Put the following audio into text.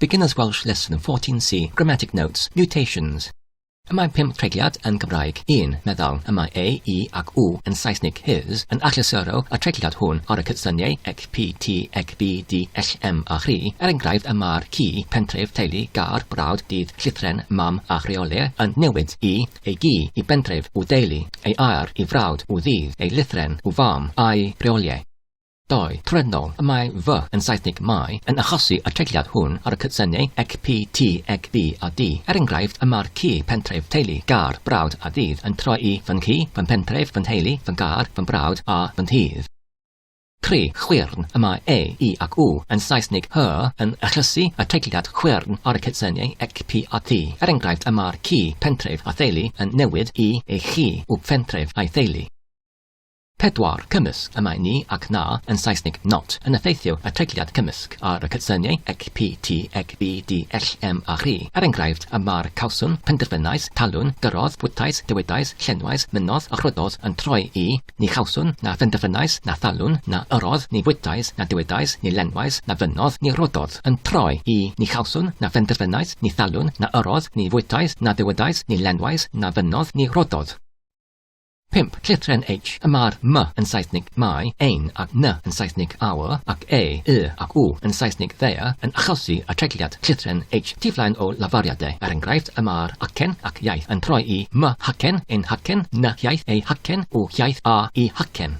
Beginner's Welsh Lesson 14C Grammatic Notes Mutations Y mae pum treigliad yn Gymraeg, un, meddal, y mae ei, i ac u yn Saesnig, his, yn achlysuro y treigliad hwn ar y cydsyniau ec, pi, ti, ec, bi, di, ell, em a chri. Er enghraifft, y mae'r ci, pentref, teulu, gar, brawd, dydd, llithren, mam a chreole, yn newid i, ei gi, i bentref, u deulu, ei aer, i frawd, u ddydd, ei lythren, u fam, a'i reole. Doi, trefnol, y mae fy, yn Saesnig my, yn achosi y treigliad hwn ar y cydsynnu ec pi ti ec bi a di. Er enghraifft, y mae'r ci, pentref, teulu, gar, brawd a ddydd yn troi i fy ngci, fy mhentref, fy nheulu, fy ngar, fy mbrawd a fy nddydd. Tri, chwyrn, y mae e, i ac u, yn Saesnig her, yn achosi y treigliad chwyrn ar y cydsynnu ec pi a ti. Er enghraifft, y mae'r ci, pentref, a theulu yn newid i ei chi, u, phentref, a'i theulu. Pedwar cymysg y mae ni ac na, yn Saesnig not, yn effeithio y treigliad cymysg ar y cydsyniau ec, pi, ti, ec, bi, di, ell, em a rhi. Er enghraifft, y mae'r, cawswn, penderfynais, talwn, gyrrodd, bwytais, dywedais, llenwais, mynnodd a chwyddodd yn troi i, ni chawswn, na phenderfynais, na thalwn, na yrrodd, ni fwytais, na dywedais, ni lenwais, na fynnodd, ni rwyddodd, yn troi i, ni chawswn, na phenderfynais, ni thalwn, na yrrodd, ni fwytais, na dywedais, ni lenwais, na fynnodd, ni rwyddodd. 5. Llithren H. Y mae'r m yn Saesnig my, ein, a'r n yn Saesnig our, ac e, y, ac u yn Saesnig their, yn achosi atregliad llithren H tu flaen o lafariadau. Er enghraifft, y mae'r acen ac iaith yn troi i my hacen, ein hacen, ny hiaith, ei hacen, u hiaith, a i hacen.